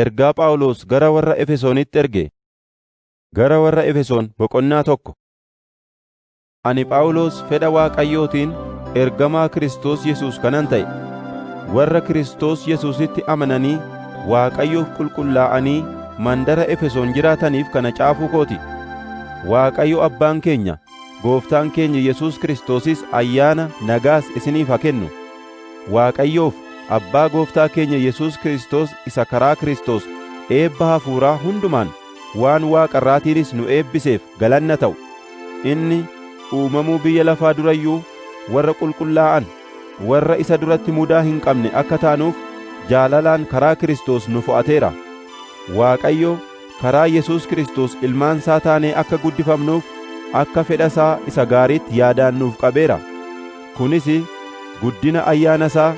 Ergaa Phaawulos gara warra Efesoonitti erge Gara warra Efesoon boqonnaa tokko Ani Phaawulos fedha Waaqayyootiin ergamaa Kiristoos Yesuus kanan ta'e, warra Kiristoos Yesuusitti amananii Waaqayyoof qulqullaa'anii mandara Efesoon jiraataniif kana caafuu koo ti. Waaqayyo Abbaan keenya Gooftaan keenya Yesuus Kiristoosis ayyaana nagaas isiniif haa kennu. Waaqayyoof Abbaa Gooftaa keenya Yesuus Kiristoos isa karaa Kiristoos eebba hafuuraa hundumaan waan waaqa irraatiinis nu eebbiseef galanna ta'u, inni uumamuu biyya lafaa dura iyyuu warra qulqullaa'an, warra isa duratti mudaa hin qabne akka taanuuf jaalalaan karaa Kiristoos nu fo'ateera. Waaqayyo karaa Yesuus Kiristoos ilmaan isaa taanee akka guddifamnuuf akka fedha isaa isa gaariitti yaadaan nuuf qabeera. Kunis guddina ayyaana isaa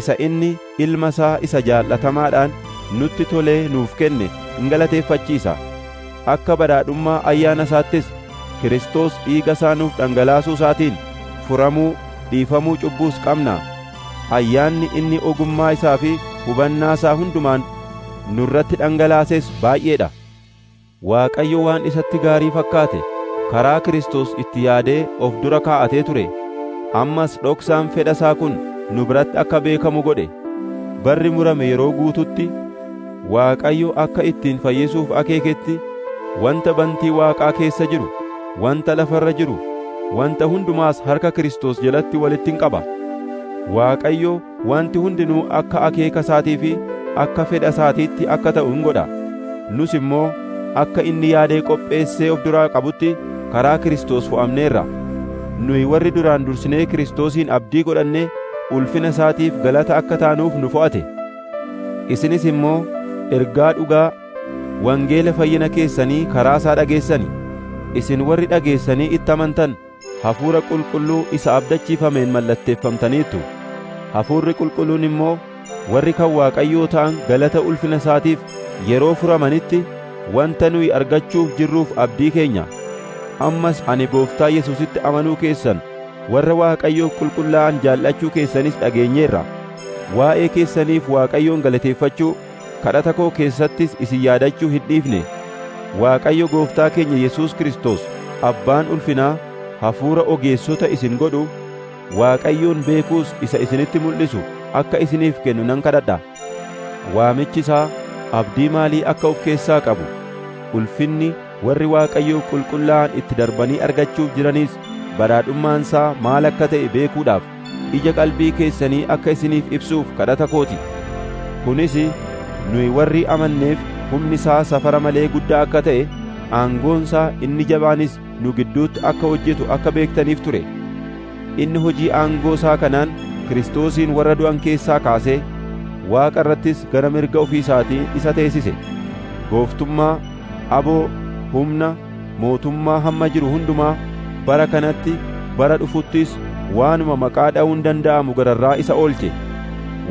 isa inni Ilma isaa isa jaallatamaadhaan nutti tolee nuuf kenne in galateeffachiisa. Akka badhaadhummaa ayyaana isaattis Kiristoos dhiiga isaa nuuf dhangalaasuu isaatiin furamuu, dhiifamuu cubbuus qabna. Ayyaanni inni ogummaa isaa fi hubannaa isaa hundumaan nurratti dhangalaases baay'ee dha. Waaqayyo waan isatti gaarii fakkaate karaa Kiristoos itti yaadee of dura kaa'atee ture, ammas dhoksaan fedha isaa kun nu biratti akka beekamu godhe. Barri murame yeroo guututti, Waaqayyo akka ittiin fayyisuuf akeeketti wanta bantii waaqaa keessa jiru, wanta lafa irra jiru, wanta hundumaas harka Kiristoos jalatti walitti in qaba. Waaqayyo wanti hundinuu akka akeeka isaatii fi akka fedha isaatiitti akka ta'u in godha. Nus immoo akka inni yaadee qopheessee of duraa qabutti karaa Kiristoos fo'amneerra. Nuyi warri duraan dursinee Kiristoosiin abdii godhanne ulfina isaatiif galata akka taanuuf nu fo'ate. Isinis immoo ergaa dhugaa wangeela fayyina keessanii karaa isaa dhageessani, isin warri dhageessanii itti amantan Hafuura Qulqulluu isa abdachiifameen mallatteeffamtaniittu; Hafuurri Qulqulluun immoo warri kan Waaqayyoo ta'an galata ulfina isaatiif yeroo furamanitti wanta nuyi argachuuf jirruuf abdii keenya. Ammas ani Gooftaa Yesuusitti amanuu keessan, warra Waaqayyoof qulqullaa'an jaallachuu keessanis dhageenyeerra. Waa'ee keessaniif Waaqayyoon galateeffachuu, kadhata koo keessattis isin yaadachuu hin dhiifne. Waaqayyo Gooftaa keenya Yesuus Kiristoos Abbaan ulfinaa hafuura ogeessota isin godhu, Waaqayyoon beekuus isa isinitti mul'isu akka isiniif kennu nan kadhadha. Waamichi isaa abdii maalii akka of keessaa qabu, ulfinni, Warri Waaqayyoo qulqullaa'an itti darbanii argachuuf jiranis badhaadhummaan isaa maal akka ta'e beekuudhaaf ija qalbii keessanii akka isiniif ibsuuf kadhata kooti. Kunis nuyi warri amanneef humni isaa safara malee guddaa akka ta'e, aangoon isaa inni jabaanis nu gidduutti akka hojjetu akka beektaniif ture. Inni hojii aangoo isaa kanaan Kiristoosiin warra du'an keessaa kaasee, Waaqa irrattis gara mirga ofii isaatii isa teessise. Gooftummaa, aboo, humna, mootummaa hamma jiru hundumaa, bara kanatti, bara dhufuttis waanuma maqaa dha'uun danda'amu gararraa isa oolche.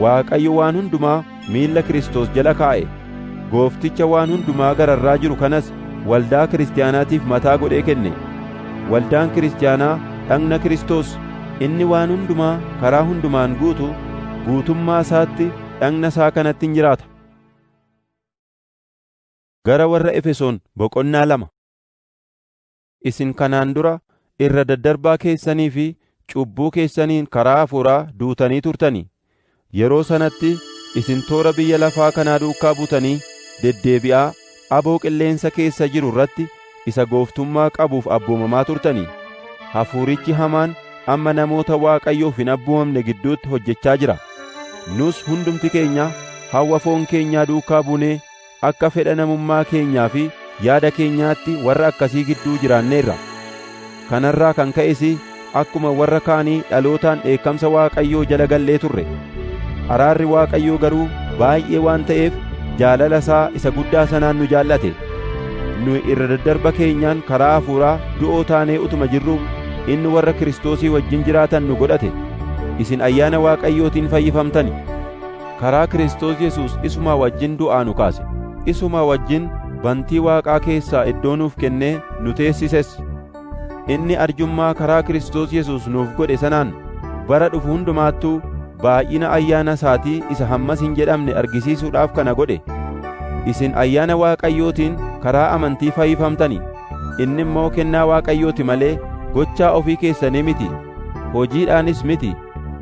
Waaqayyo waan hundumaa miilla Kiristoos jala kaa'e, Goofticha waan hundumaa gararraa jiru kanas waldaa Kiristiyaanaatiif mataa godhee kenne. Waldaan Kiristiyaanaa dhagna Kiristoos, inni waan hundumaa karaa hundumaan guutu, guutummaa isaatti dhagna isaa kanatti in jiraata. Gara warra Efesoon boqonnaa lama. Isin kanaan dura irra daddarbaa keessanii fi cubbuu keessaniin karaa hafuuraa duutanii turtanii? Yeroo sanatti isin toora biyya lafaa kanaa duukaa butanii deddeebi'aa aboo qilleensa keessa jiru irratti isa gooftummaa qabuuf abboomamaa turtanii? Hafuurichi hamaan amma namoota Waaqayyoof hin abboomamne gidduutti hojjechaa jira. Nus hundumti keenya hawwa foon keenyaa duukaa buunee Akka fedha namummaa keenyaa fi yaada keenyaatti warra akkasii gidduu jiraanneerra. Kanarraa kan ka'es akkuma warra kaanii dhalootaan dheekkamsa Waaqayyoo jala gallee turre. Araarri Waaqayyoo garuu baay'ee waan ta'eef jaalala isaa isa guddaa sanaan nu jaallate. Nuyi irra daddarba keenyaan karaa hafuuraa du'oo taanee utuma jirruu inni warra Kiristoosii wajjin jiraatan nu godhate. Isin ayyaana Waaqayyootiin fayyifamtani. karaa Kiristoos Yesuus isuma wajjin du'aa nu kaase, isuma wajjin bantii Waaqaa keessaa iddoo nuuf kennee nu teessises. Inni arjummaa karaa Kiristoos Yesuus nuuf godhe sanaan bara dhufu hundumaattuu baay'ina ayyaana isaatii isa hammas hin jedhamne argisiisuudhaaf kana godhe. Isin ayyaana Waaqayyootiin karaa amantii fayyifamtani, inni immoo kennaa Waaqayyoo ti malee gochaa ofii keessanii miti, hojiidhaanis miti.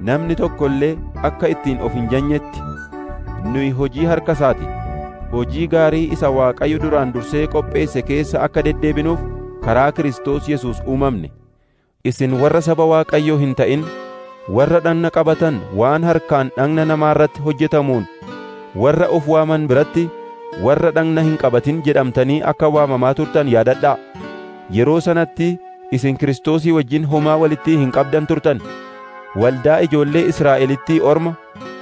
Namni tokko illee akka ittiin of hin janyetti nuyi hojii harka isaati. Hojii gaarii isa Waaqayyo duraan dursee qopheesse keessa akka deddeebinuuf karaa Kiristoos Yesuus uumamne. Isin warra saba Waaqayyoo hin ta'in, warra dhagna qabatan waan harkaan dhagna namaa irratti hojjetamuun warra of waaman biratti warra dhagna hin qabatin jedhamtanii akka waamamaa turtan yaadadhaa. Yeroo sanatti isin Kiristoosii wajjin homaa walitti hin qabdan turtan, waldaa ijoollee Israa'elittii orma,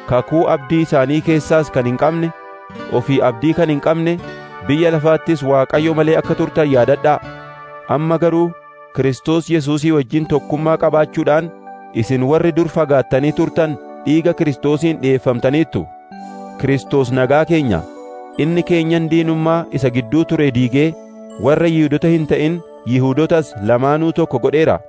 kakuu abdii isaanii keessaas kan hin qabne, ofii abdii kan hin qabne, biyya lafaattis Waaqayyo malee akka turtan yaadadhaa. Amma garuu Kiristoos Yesuusii wajjin tokkummaa qabaachuudhaan isin warri dur fagaattanii turtan dhiiga Kiristoosiin dhi'eeffamtaniittu. Kiristoos nagaa keenya, inni keenyan diinummaa isa gidduu ture diigee warra Yihuudota hin ta'in Yihuudotas lamaanuu tokko godheera.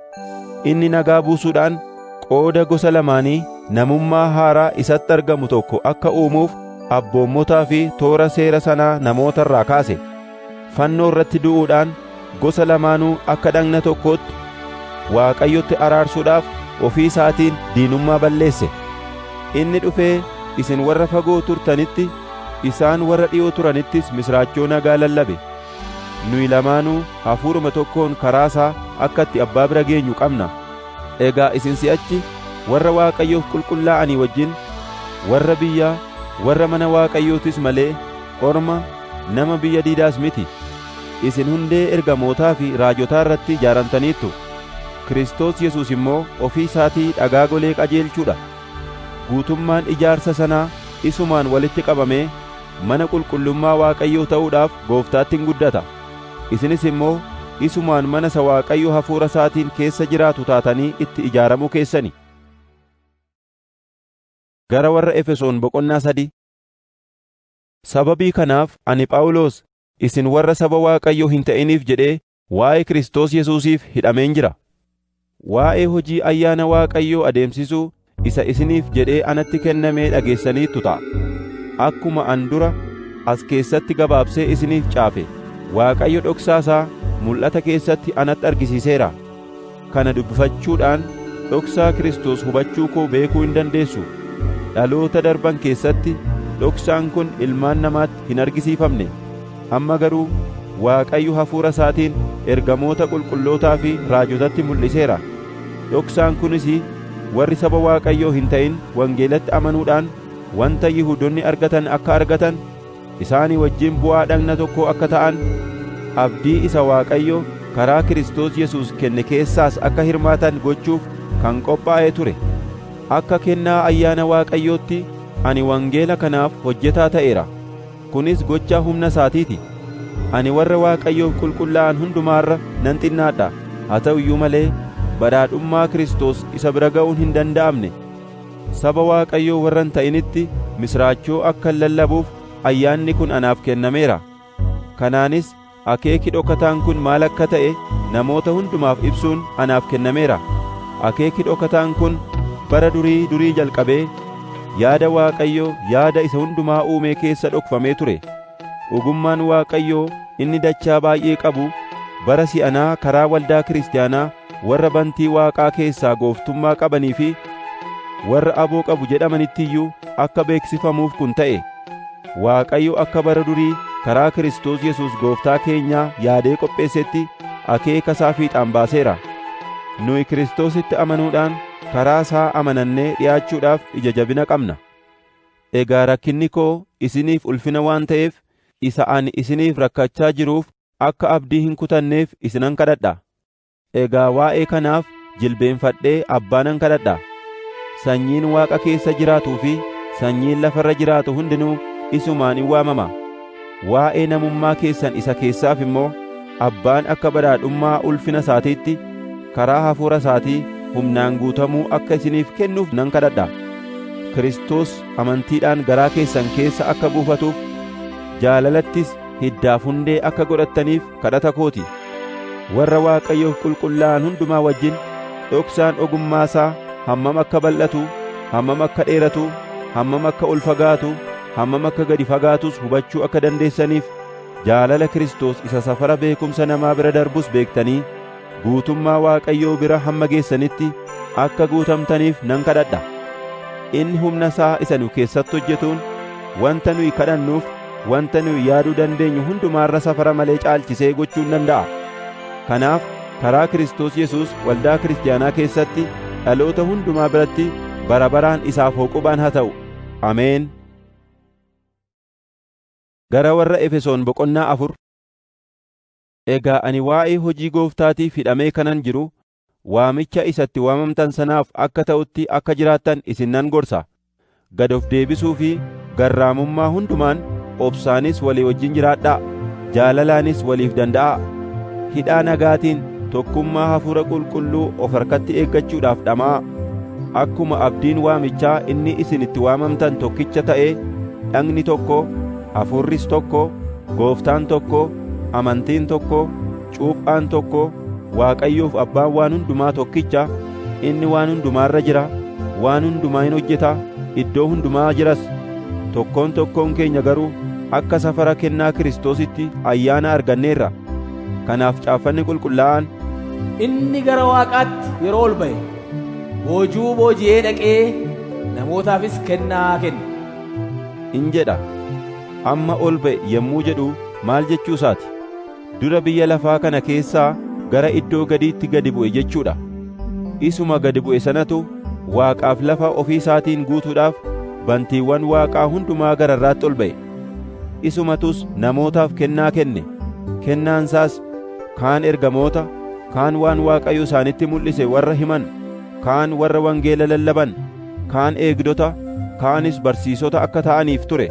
Inni nagaa buusuudhaan qooda gosa lamaanii namummaa haaraa isatti argamu tokko akka uumuuf abboommotaa fi toora seera sanaa namoota irraa kaase. Fannoo irratti du'uudhaan gosa lamaanuu akka dhagna tokkootti Waaqayyotti araarsuudhaaf ofii isaatiin diinummaa balleesse. Inni dhufee isin warra fagoo turtanitti, isaan warra dhi'oo turanittis misraachoo nagaa lallabe. Nuyi lamaanuu hafuuruma tokkoon karaa isaa akka itti Abbaa bira geenyu qabna. Egaa isin si'achi warra Waaqayyoof qulqullaa'anii wajjin, warra biyyaa, warra mana Waaqayyootis malee orma, nama biyya diidaas miti. Isin hundee ergamootaa fi raajotaa irratti ijaaramtaniittu. Kiristoos Yesuus immoo ofii isaatii dhagaa golee qajeelchuu dha. Guutummaan ijaarsa sanaa isumaan walitti qabamee mana qulqullummaa Waaqayyoo ta'uudhaaf Gooftaatti in guddata, isinis immoo isumaan mana isa Waaqayyo hafuura isaatiin keessa jiraatu taatanii itti ijaaramuu keessani. Gara warra Efesoon boqonnaa sadii Sababii kanaaf ani Phaawulos isin warra saba Waaqayyoo hin ta'iniif jedhee Waa'ee Kiristoos Yesuusiif hidhameen jira. Waa'ee hojii ayyaana Waaqayyoo adeemsisuu isa isiniif jedhee anatti kennamee dhageessaniittu ta'a. Akkuma an dura as keessatti gabaabsee isiniif caafe, Waaqayyo dhoksaa isaa mul'ata keessatti anatti argisiiseera. Kana dubbifachuudhaan dhoksaa Kiristoos hubachuu koo beekuu hin dandeessu. Dhaloota darban keessatti dhoksaan kun ilmaan namaatti hin argisiifamne. Amma garuu Waaqayyo hafuura isaatiin ergamoota qulqullootaa fi raajotatti mul'iseera. Dhoksaan kunis warri saba Waaqayyoo hin ta'in wangeelatti amanuudhaan wanta Yihuudonni argatan akka argatan, isaanii wajjin bu'aa dhagna tokkoo akka ta'an, abdii isa Waaqayyo karaa Kiristoos Yesuus kenne keessaas akka hirmaatan gochuuf kan qophaa'e ture. Akka kennaa ayyaana Waaqayyootti ani wangeela kanaaf hojjetaa ta'eera; kunis gocha humna isaatii ti. Ani warra Waaqayyoof qulqullaa'an hundumaa irra nan xinnaadha; haa ta'u iyyuu malee badhaadhummaa Kiristoos isa bira ga'uun hin danda'amne. Saba Waaqayyoo warra hin ta'initti misiraachoo akkan lallabuuf ayyaanni kun anaaf kennameera. Kanaanis akeeki dhokataan kun maal akka ta'e namoota hundumaaf ibsuun anaaf kennameera. Akeeki dhokataan kun bara durii durii jalqabee yaada Waaqayyoo yaada isa hundumaa uumee keessa dhokfamee ture. Ogummaan Waaqayyoo inni dachaa baay'ee qabu bara si'anaa karaa waldaa kiristiyaanaa warra bantii waaqaa keessaa gooftummaa qabanii fi warra aboo qabu jedhamanitti iyyuu akka beeksifamuuf kun ta'e Waaqayyo akka bara durii karaa Kiristoos Yesuus gooftaa keenyaa yaadee qopheessetti akeeka isaa fiixaan baaseera. Nuyi Kiristoositti amanuudhaan karaa isaa amanannee dhi'aachuudhaaf ija jabina qabna. Egaa rakkinni koo isiniif ulfina waan ta'eef isa ani isiniif rakkachaa jiruuf akka abdii hin kutanneef isinan kadhadha. Egaa waa'ee kanaaf jilbeenfadhee Abbaa nan kadhadha. Sanyiin Waaqa keessa jiraatuu fi sanyiin lafa irra jiraatu hundinuu isumaan in waamama. Waa'ee namummaa keessan isa keessaaf immoo Abbaan akka badhaadhummaa ulfina isaatiitti karaa hafuura isaatii humnaan guutamuu akka isiniif kennuuf nan kadhadha. Kiristoos amantiidhaan garaa keessan keessa akka buufatuuf jaalalattis hiddaaf hundee akka godhattaniif kadhata koo ti. Warra Waaqayyoof qulqullaa'an hundumaa wajjin dhoksaan ogummaa isaa hammam akka bal'atu, hammam akka dheeratu, hammam akka ol fagaatu, hammam akka gadi fagaatus hubachuu akka dandeessaniif jaalala Kiristoos isa safara beekumsa namaa bira darbus beektanii guutummaa Waaqayyoo bira hamma geessanitti akka guutamtaniif nan kadhadha. Inni humna isaa isa nu keessatti hojjetuun wanta nuyi kadhannuuf wanta nuyi yaaduu dandeenyu hundumaarra safara malee caalchisee gochuun danda'a. Kanaaf karaa Kiristoos Yesuus waldaa kiristiyaanaa keessatti dhaloota hundumaa biratti bara baraan isaaf hooqubaan haa ta'u. Ameen. Gara warra Efesoon boqonnaa afur Egaa ani waa'ee hojii gooftaatiif hidhamee kanan jiru, waamicha isa itti waamamtan sanaaf akka ta'utti akka jiraattan isin nan gorsa. Gad of deebisuu fi garraamummaa hundumaan, obsaanis walii wajjin jiraadhaa, jaalalaanis waliif danda'aa. Hidhaa nagaatiin tokkummaa Hafuura Qulqulluu of harkatti eeggachuudhaaf dhama'aa. Akkuma abdiin waamichaa inni isin itti waamamtan tokkicha ta'ee, dhagni tokko, Hafuurris tokko, Gooftaan tokko, amantiin tokko, cuuphaan tokko, Waaqayyoof Abbaan waan hundumaa tokkicha, inni waan hundumaa irra jira, waan hundumaa in hojjeta, iddoo hundumaa jiras. Tokkoon tokkoon keenya garuu akka safara kennaa Kiristoositti ayyaana arganneerra. Kanaaf caaffanni qulqullaa'aan Inni gara waaqaatti yeroo ol ba'e boojuu booji'ee dhaqee namootaafis kennaa kenne. in jedha. Amma ol ba'e yommuu jedhu maal jechuu isaati? Dura biyya lafaa kana keessaa gara iddoo gadiitti gadi bu'e jechuu dha. Isuma gadi bu'e sanatu waaqaaf lafa ofii isaatiin guutuudhaaf bantiiwwan waaqaa hundumaa gararraatti ol ba'e. Isumatus namootaaf kennaa kenne, kennaan isaas kaan ergamoota, kaan waan Waaqayyo isaanitti mul'ise warra himan, kaan warra wangeela lallaban, kaan eegdota, kaanis barsiisota akka ta'aniif ture.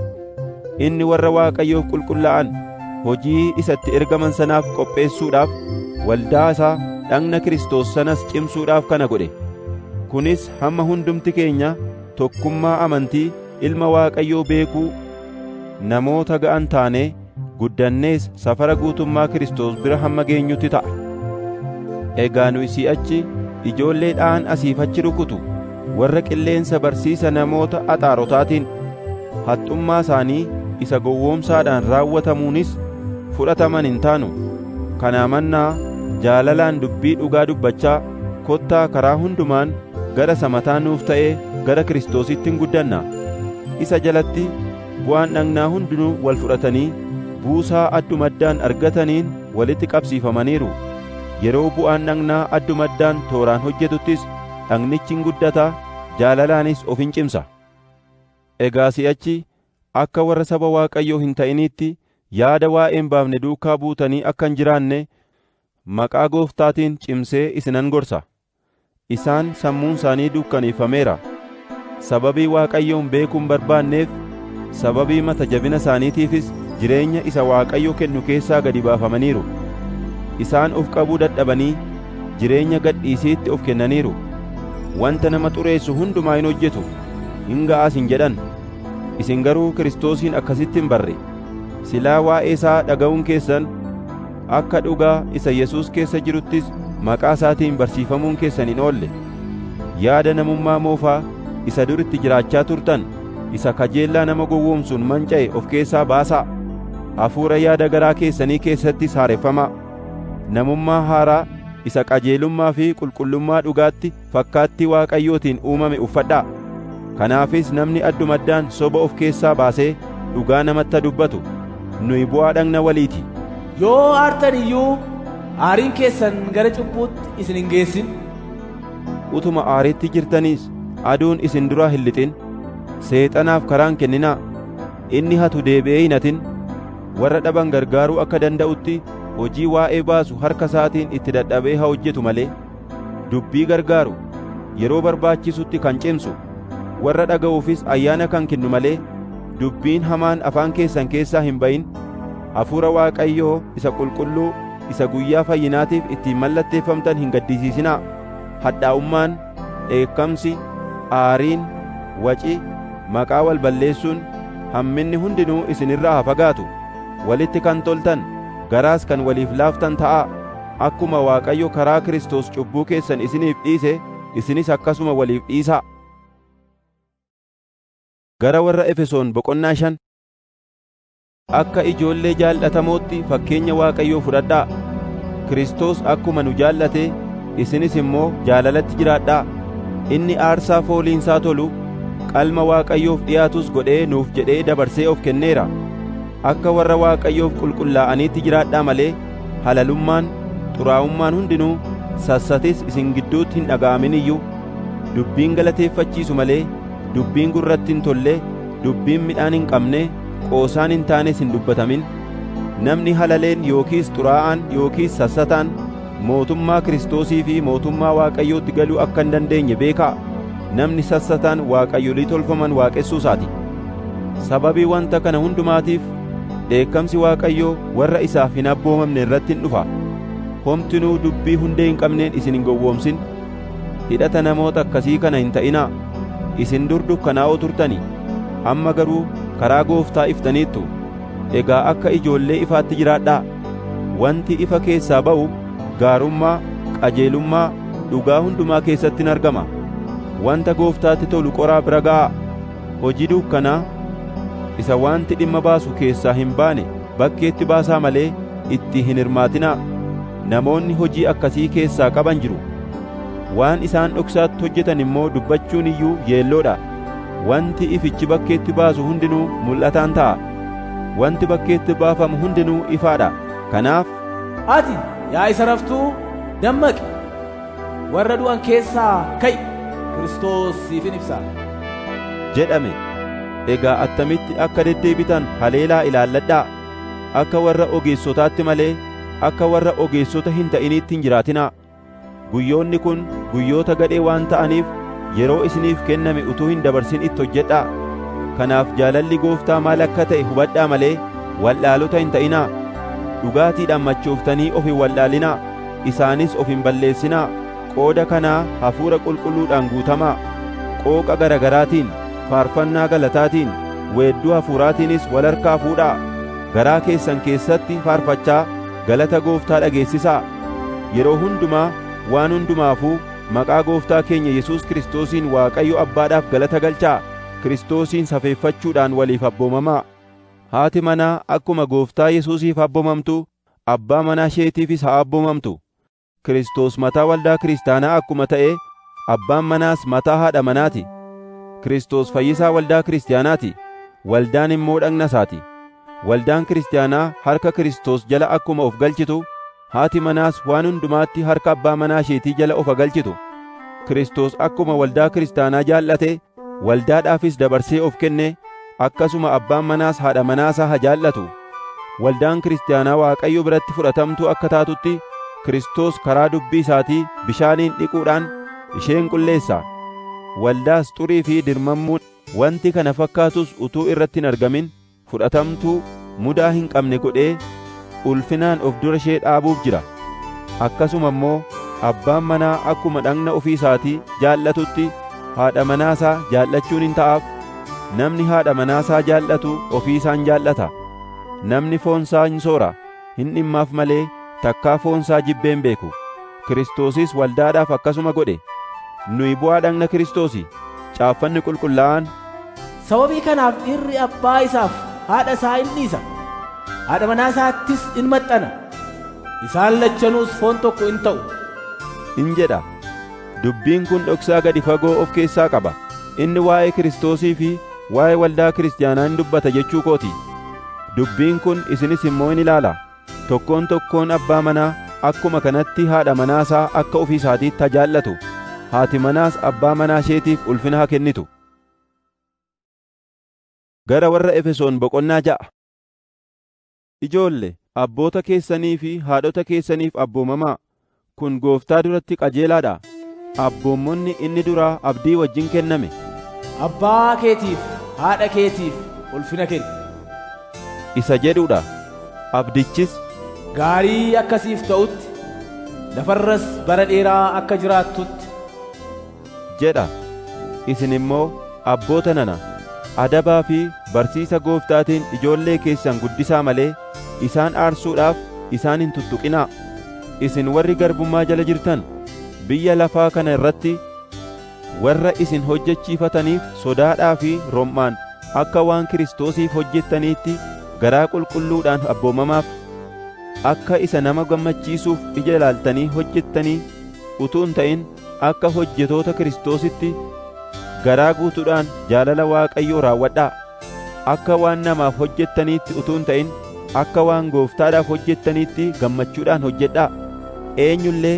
Inni warra Waaqayyoof qulqullaa'an hojii isa itti ergaman sanaaf qopheessuudhaaf, waldaa isaa dhagna Kiristoos sanas cimsuudhaaf kana godhe. Kunis hamma hundumti keenya tokkummaa amantii Ilma Waaqayyoo beekuu namoota ga'an taanee guddannees safara guutummaa Kiristoos bira hamma geenyutti ta'a. Egaa nuyi si'achi ijoollee dha'an asiif achi rukutu, warra qilleensa barsiisa namoota axaarotaatiin, haxxummaa isaanii isa gowwoomsaadhaan raawwatamuunis fudhataman hin taanu. Kanaa mannaa jaalalaan dubbii dhugaa dubbachaa kottaa karaa hundumaan gara isa mataa nuuf ta'ee gara Kiristoositti in guddanna. Isa jalatti Bu'aan dhagnaa hundinuu wal fudhatanii buusaa adduma addaan argataniin walitti qabsiifamaniiru. Yeroo bu'aan dhagnaa adduma addaan tooraan hojjetuttis dhagnichi in guddata, jaalalaanis of in cimsa. Egaa si'achi akka warra saba Waaqayyoo hin ta'iniitti yaada waa'ee hin baafne duukaa buutanii akka hin jiraanne maqaa Gooftaatiin cimsee isinan gorsa. Isaan sammuun isaanii dukkaneeffameera. Sababii Waaqayyoon beekuu hin barbaanneef, sababii mata jabina isaaniitiifis jireenya isa Waaqayyo kennu keessaa gadi baafamaniiru. Isaan of qabuu dadhabanii jireenya gadhiisiitti of kennaniiru. Wanta nama xureessu hundumaa in hojjetu, in ga'as hin jedhan. Isin garuu Kiristoosiin akkasitti hin barre. Silaa waa'ee isaa dhaga'uun keessan, akka dhugaa isa Yesuus keessa jiruttis maqaa isaatiin barsiifamuun keessan hin oolle. Yaada namummaa moofaa isa dur itti jiraachaa turtan isa kajeellaa nama gowwoomsuun manca'e of keessaa baasaa. Hafuura yaada garaa keessanii keessattis haareffamaa. Namummaa haaraa isa qajeelummaa fi qulqullummaa dhugaatti fakkaattii Waaqayyootiin uumame uffadhaa. Kanaafis namni addumaddaan soba of keessaa baasee dhugaa namatti dubbatu, nuyi bu'aa dhagna walii ti. Yoo aartan iyyuu aariin keessan gara cubbuutti isin hin geessin. Utuma aariitti jirtaniis aduun isin duraa hin lixin. Seexanaaf karaa hin kenninaa. Inni hatu deebi'ee hin hatin. Warra dhaban gargaaruu akka danda'utti hojii waa'ee baasu harka isaatiin itti dadhabee haa hojjetu malee. dubbii gargaaru, yeroo barbaachisutti kan cimsu, warra dhaga'uufis ayyaana kan kennu malee dubbiin hamaan afaan keessan keessaa hin ba'in, hafuura Waaqayyoo isa qulqulluu isa guyyaa fayyinaatiif ittiin mallatteeffamtan hin gaddisiisinaa. Hadhaa'ummaan, dheekkamsi, aariin, waci, maqaa wal balleessuun, hamminni hundinuu isin irraa haa fagaatu. Walitti kan toltan, garaas kan waliif laaftan ta'aa. Akkuma Waaqayyo karaa Kiristoos cubbuu keessan isiniif dhiise, isinis akkasuma waliif dhiisaa. Gara warra Efesoon boqonnaa shan Akka ijoollee jaal'atamootti fakkeenya Waaqayyoo fudhadhaa. Kiristoos akkuma nu jaallate isinis immoo jaalalatti jiraadhaa. Inni aarsaa fooliinsaa tolu qalma Waaqayyoof dhiyaatus godhee nuuf jedhee dabarsee of kenneera. Akka warra Waaqayyoof qulqullaa'aniitti jiraadhaa malee halalummaan, xuraa'ummaan hundinuu, sassatis isin gidduutti hin dhaga'amin iyyuu, dubbiin galateeffachiisu malee, dubbiin gurratti hin tolle, dubbiin midhaan hin qabne, qoosaan hin taanes hin dubbatamin. Namni halaleen yookiis xuraa'aan yookiis sassataan mootummaa Kiristoosii fi mootummaa Waaqayyootti galuu akka hin dandeenye beekaa, namni sassataan waaqayyolii tolfaman waaqessuu isaa ti. Sababii wanta kana hundumaatiif Dheekkamsi Waaqayyoo warra isaaf hin abboomamne irratti in dhufa. Homtinuu dubbii hundee hin qabneen isin hin gowwoomsin. Hidhata namoota akkasii kana hin ta'inaa. Isin dur dukkanaa'oo turtanii, amma garuu karaa Gooftaa iftaniittu. Egaa akka ijoollee ifaatti jiraadhaa. Wanti ifa keessaa ba'u gaarummaa, qajeelummaa, dhugaa hundumaa keessatti in argama. Wanta Gooftaatti tolu qoraa bira ga'aa. hojii duukkanaa isa wanti dhimma baasu keessaa hin baane bakkeetti baasaa malee itti hin hirmaatinaa. Namoonni hojii akkasii keessaa qaban jiru. Waan isaan dhoksaatti hojjetan immoo dubbachuun iyyuu yeelloo dha. Wanti ifichi bakkeetti baasu hundinuu mul'ataan ta'a. Wanti bakkeetti baafamu hundinuu ifaa dha. Kanaaf Ati, yaa isa raftuu, dammaqi! Warra du'an keessaa ka'i! Kiristoos siif in ibsa. jedhame. Egaa attamitti akka deddeebitan haleelaa ilaalladhaa. Akka warra ogeessotaatti malee akka warra ogeessota hin ta'iniitti hin jiraatinaa. Guyyoonni kun guyyoota gadhee waan ta'aniif yeroo isiniif kenname utuu hin dabarsin itti hojjedhaa. Kanaaf jaalalli Gooftaa maal akka ta'e hubadhaa malee wal'aalota hin ta'inaa. Dhugaatiidhaan machooftanii of hin wal'aalinaa. Isaanis of hin balleessinaa, qooda kanaa Hafuura Qulqulluudhaan guutamaa, qooqa gara garaatiin, faarfannaa galataatiin, weedduu hafuuraatiinis wal harkaa fuudhaa, garaa keessan keessatti faarfachaa galata Gooftaa dhageessisaa. Yeroo hundumaa waan hundumaafuu maqaa Gooftaa keenya Yesuus Kiristoosiin Waaqayyo Abbaadhaaf galata galchaa, Kiristoosiin safeeffachuudhaan waliif abboomamaa. Haati manaa akkuma Gooftaa Yesuusiif abbomamtu abbaa manaa isheetiifis haa abboomamtu. Kiristoos mataa waldaa kiristaanaa akkuma ta'e abbaan manaas mataa haadha manaa ti. Kiristoos fayyisaa waldaa kiristaanaa ti, waldaan immoo dhagna isaa ti. Waldaan kiristaanaa harka Kiristoos jala akkuma of galchitu, haati manaas waan hundumaatti harka abbaa manaa isheetii jala of haa galchitu. Kiristoos akkuma waldaa kiristaanaa jaallate, waldaadhaafis dabarsee of kenne, akkasuma abbaan manaas haadha manaa isaa haa jaallatu. Waldaan kiristaanaa Waaqayyo biratti fudhatamtuu akka taatutti Kiristoos karaa dubbii isaatii bishaaniin dhiquudhaan isheen qulleessa. Waldaas xurii fi dirmammuun wanti kana fakkaatus utuu irratti hin argamin fudhatamtuu mudaa hin qabne godhee ulfinaan of dura ishee dhaabuuf jira. Akkasuma immoo abbaan manaa akkuma dhagna ofii isaatii jaallatutti haadha manaa isaa jaallachuun in ta'aaf, namni haadha manaa isaa jaallatu ofii isaan jaallata, namni foon isaa in soora. hin dhimmaaf malee takkaa foon isaa jibbee hin beeku. Kiristoosis waldaadhaaf akkasuma godhe. Nuyi bu'aa dhagna Kiristoosi. Caaffanni qulqullaa'aan, Sababii kanaaf dhirri abbaa isaaf haadha isaa in dhiisa, haadha manaa isaattis in maxxana, isaan lachanuus foon tokko in ta'u. in jedha. Dubbiin kun dhoksaa gadi fagoo of keessaa qaba. Inni waa'ee Kiristoosii fi waa'ee waldaa kiristiyaanaa in dubbata jechuu koo ti. Dubbiin kun isinis immoo in ilaala. Tokkoon tokkoon abbaa manaa akkuma kanatti haadha manaa isaa akka ofii isaatiitti haa jaallatu, haati manaas abbaa manaa isheetiif ulfina haa kennitu. Gara warra Efesoon boqonnaa ja'a. Ijoolle, abboota keessanii fi haadhota keessaniif abboomamaa, kun Gooftaa duratti qajeelaa dha. Abboommonni inni duraa abdii wajjin kenname. Abbaa keetiif haadha keetiif ulfina kenni. isa jedhu dha. Abdichis. Gaarii akka siif ta'utti, lafa irras bara dheeraa akka jiraattutti. jedha. Isin immoo abboota nana, adabaa fi barsiisa Gooftaatiin ijoollee keessan guddisaa malee, isaan aarsuudhaaf isaan hin tuttuqinaa. Isin warri garbummaa jala jirtan, biyya lafaa kana irratti warra isin hojjechiifataniif sodaadhaa fi rom'aan akka waan Kiristoosiif hojjettaniitti garaa qulqulluudhaan abboomamaaf. Akka isa nama gammachiisuuf ija ilaaltanii hojjettanii utuu hin ta'in, akka hojjetoota Kiristoositti garaa guutuudhaan jaalala Waaqayyoo raawwadhaa. Akka waan namaaf hojjettaniitti utuu hin ta'in akka waan Gooftaadhaaf hojjettaniitti gammachuudhaan hojjedhaa. Eenyu illee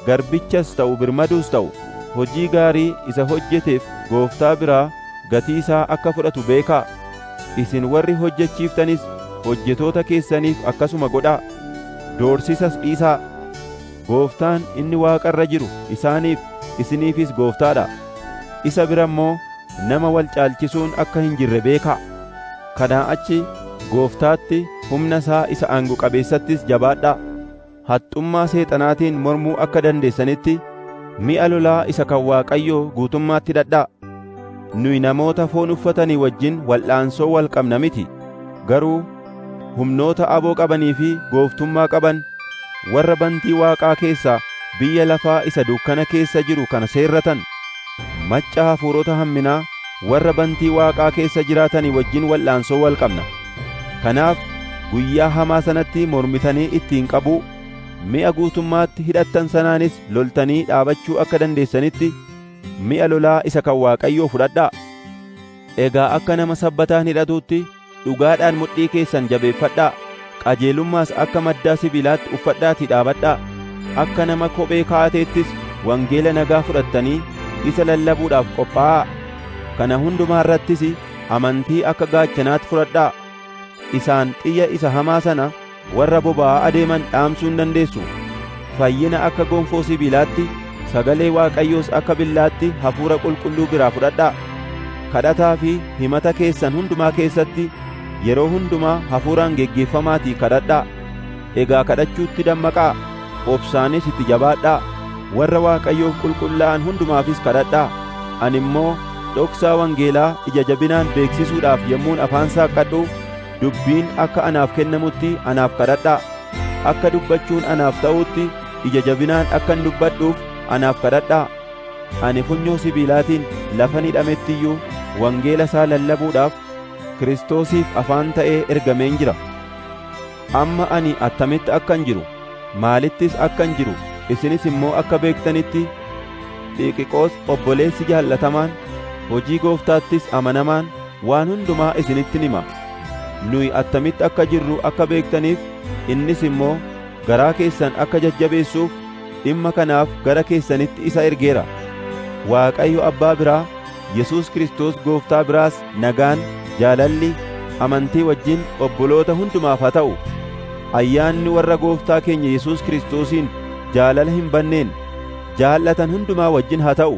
garbichas ta'u birmaduus ta'u hojii gaarii isa hojjeteef Gooftaa biraa gatii isaa akka fudhatu beekaa. Isin warri hojjechiiftanis hojjetoota keessaniif akkasuma godhaa. Doorsisas dhiisaa. Gooftaan inni waaqa irra jiru isaaniif, isiniifis Gooftaa dha. Isa bira immoo nama wal caalchisuun akka hin jirre beekaa. Kanaa achi Gooftaatti, humna isaa isa aango qabeessattis jabaadhaa. Haxxummaa Seexanaatiin mormuu akka dandeessanitti, mi'a lolaa isa kan Waaqayyoo guutummaatti hidhadhaa. Nuyi namoota foon uffatanii wajjin wal'aansoo wal qabna miti, garuu humnoota aboo qabanii fi gooftummaa qaban warra bantii waaqaa keessaa biyya lafaa isa dukkana keessa jiru kana seerratan, macca hafuurota hamminaa warra bantii waaqaa keessa jiraatanii wajjin wal'aansoo wal qabna. Kanaaf guyyaa hamaa sanatti mormitanii ittiin qabuu, mi'a guutummaatti hidhattan sanaanis loltanii dhaabachuu akka dandeessanitti mi'a lolaa isa kan Waaqayyoo fudhadhaa. Egaa akka nama sabbataan hidhatuutti Dhugaadhaan mudhii keessan jabeeffadhaa, qajeelummaas akka maddaa sibiilaatti uffadhaatii dhaabadhaa. Akka nama kophee kaa'ateettis wangeela nagaa fudhattanii isa lallabuudhaaf qophaa'aa. Kana hundumaa irrattis amantii akka gaachanaatti fudhadhaa. Isaan xiyya isa hamaa sana Warra boba'aa adeeman dhaamsuu hin dandeessu. Fayyina akka gonfoo sibiilaatti, sagalee Waaqayyoos akka billaatti hafuura qulqulluu biraa fudhadhaa. Kadhataa fi himata keessan hundumaa keessatti yeroo hundumaa hafuuraan geggeeffamaatii kadhadhaa. Egaa kadhachuutti dammaqaa, obsaanis itti jabaadhaa. Warra Waaqayyoof qulqullaa'an hundumaafis kadhadhaa. Ani immoo dhoksaa wangeelaa ija jabinaan beeksisuudhaaf yommuun afaan saaqqadhu, Dubbiin akka anaaf kennamutti anaaf kadhadhaa, akka dubbachuun anaaf ta'utti ija jabinaan akkan dubbadhuuf anaaf kadhadhaa. Ani funyoo sibiilaatiin lafan hidhametti iyyuu wangeela isaa lallabuudhaaf Kiristoosiif afaan ta'ee ergameen jira. Amma ani attamitti akkan jiru, maalittis akkan jiru isinis immoo akka beektanitti Xiiqiqoos obboleessi jaallatamaan, hojii Gooftaattis amanamaan, Waan hundumaa isinittin hima. Nuyi attamitti akka jirru akka beektaniif, innis immoo garaa keessan akka jajjabeessuuf dhimma kanaaf gara keessanitti isa ergeera. Waaqayyo Abbaa biraa, Yesuus Kiristoos Gooftaa biraas nagaan, jaalalli, amantii wajjin obboloota hundumaaf haa ta'u. Ayyaanni warra Gooftaa keenya Yesuus Kiristoosiin jaalala hin banneen jaallatan hundumaa wajjin haa ta'u.